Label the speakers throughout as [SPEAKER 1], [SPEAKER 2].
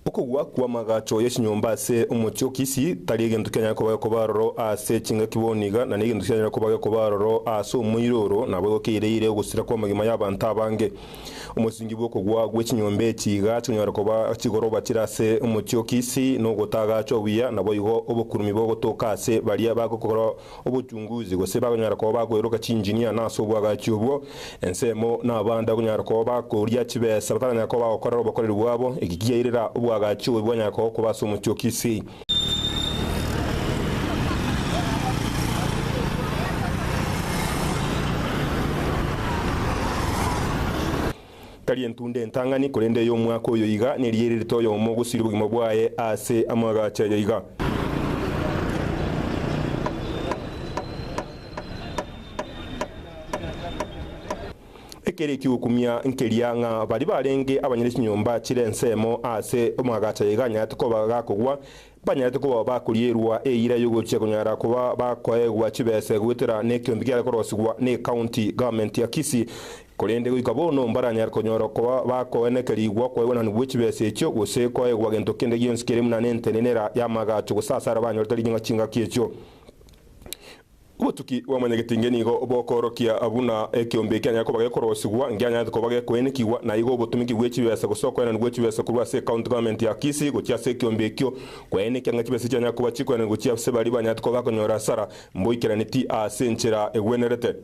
[SPEAKER 1] Okogwa kw'amagacho ye chinyomba ase omochie o Kisii tari egento kianyare koba gekoba aroro ase chingaki bono iga, na negento kianyare koba gekoba aroro ase omoiroro nabo egokeire-ire ogosira kw'amagima y'abanto abange. Omosingi bw'okogwa gwe chinyomba echi iga chikonyara koba chigoroba chire ase omochie o Kisii nogotaagachwa buya, naboigo obokurumi bogotoka ase baria bagokora Obochunguzi, gose bakonyara koba bakoeroka chinjinia, na ase obwagachi obwo, ensemo, na abande bakonyara koba bakoria chibesa bataranyara koba bagokorera obokoreri bwabo, eki kiairera obwagachi obo bwanyara kogokoba ase omotiokisi. Tari entunda entang'ani, korende ey'omwaka oyo iga, nerigia ererete oyomo gosiria obogima bwaye ase amagacho ayo iga. Ekere eki'okumia nkeria, ng'a baria barenge abanyene chinyomba chire ensemo ase amagacho ayo iga anyarete koba gakogwa, Banyarete koba bakorierwa eira y'ogochia konyara koba bakoegwa chibese goetera nekeonto kiare korosigwa ne County Government ya Kisii, korende goika bono mbaranyare konyora koba bakoenekerigwa okoegwananwa bwe chibese echio gose koegwa gento kende gionsi kere buna nentenenera y'amagacho gose asare banyorete ring'ana chingaki echio. Obotuki bwa Mwanyagetenge nigo bokoorokia buna ekeombe ekianyare koba gekorosigwa, ngeanyanete koba gekoenekigwa, na igo obotumiki bwe chibesa gose okoenani gwe chibesa korwa ase County Government ya Kisii gochia ase ekeombe ekio, koenekia ng'a chibesa chianyare koba chikoenani gochia ase baria banyarete koba bakonyora hasara, mboikeraneti ase enchera egwenerete.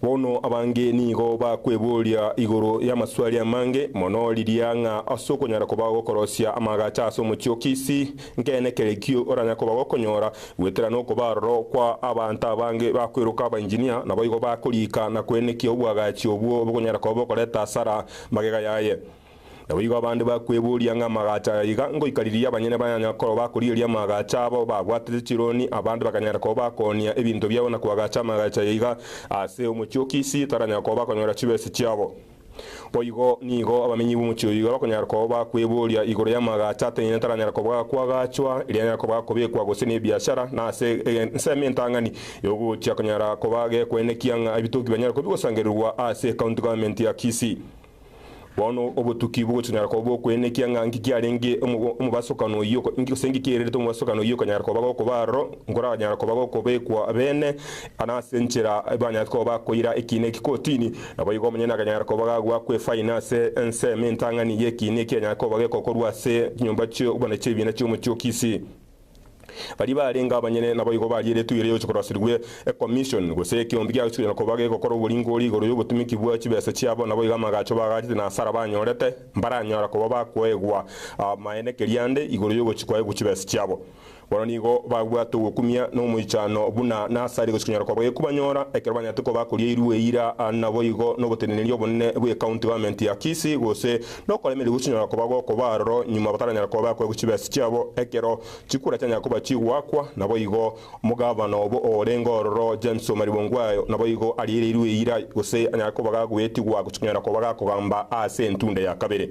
[SPEAKER 1] Bono abange nigo bakweboria igoro y'amaswali amange mono riria ng'a as'okonyara koba gokorosia amaagacha as'omochie o Kisii, Nkeene ekerekio oranya koba gokonyora goetera nokoba aroro kwa abanto abange bakweroka abainjinia, naboigo bakoriika na koenekia obwagachi obwo bokonyara koba bokoreta asara magega yaye. Naboigo abande bakweboria ng'a amagacho aya iga ngoika riria abanyene bayanya koba bakorigeria amagacho abo babwatete chironi, abande bakanyara koba bakonia ebinto biabo na koagacha amagacho aya iga ase omochie o Kisii taranya koba bakonyora chibesa chiabo. Boigo nigo abamenyi b'omochie oyio bakonyara koba kweboria igoro y'amagacho ateneine ataranyara koba kwagachwa, eria anyara koba kobekwa gose nebiachara, na ase ensemo entang'ani y'ogochia konyara koba gekwaine ekiang'a ebitoki bianyare koba bigosangererwa ase County Government ya Kisii. Bono obotuki bogochia konyara koba bokwaine ekiang'a nki kiarenge omobasokano oyio gose nki kiererete omobasokano oyio okonyara koba gokoba aroro, nkoranyara koba gokobekwa beene, na ase enchera ebanyarete koba bakoira ekiina eki kotini. Naboigo omonyene akanyara koba gagwa kw'efaini ase ensemo entang'ani y'ekiina ekianyare koba geko korwa ase chinyomba chi'obonachi chi'ebiina chi'omochie o Kisii. Baria barenge abanyene naboigo baria eretugio riaye gochikorasirwe ekommision gose ekeombe kiaye chionyara koba geko korwa oboringori igoro y'obotumiki bwa chibesa chiabo naboigo amagacho bagachete na hasara banyorete mbaranyara koba bakoegwa amaene keriande igoro y'ogochia kwaegwa chibesa chiabo. Bono nigo babwate ogokumia na omoichano buna Nasari gochia konyora koboyia kobanyora ekero banyarete koba akorieirwe eira aa naboigo nogoteneneri obonene bwe county government ya Kisii gose nokoremeria gochia konyora koba gokoba aroro nyuma bataranyara koba bakoegwa chibesa chiabo ekero chikura chianyara koba chigoakwa naboigo omogavana obo orenge ororo James Omariba Ongwae naboigo ariereirwe eira gose anyare koba gagoetigwa gochia konyora koba gakogamba aase entunde ya kabere.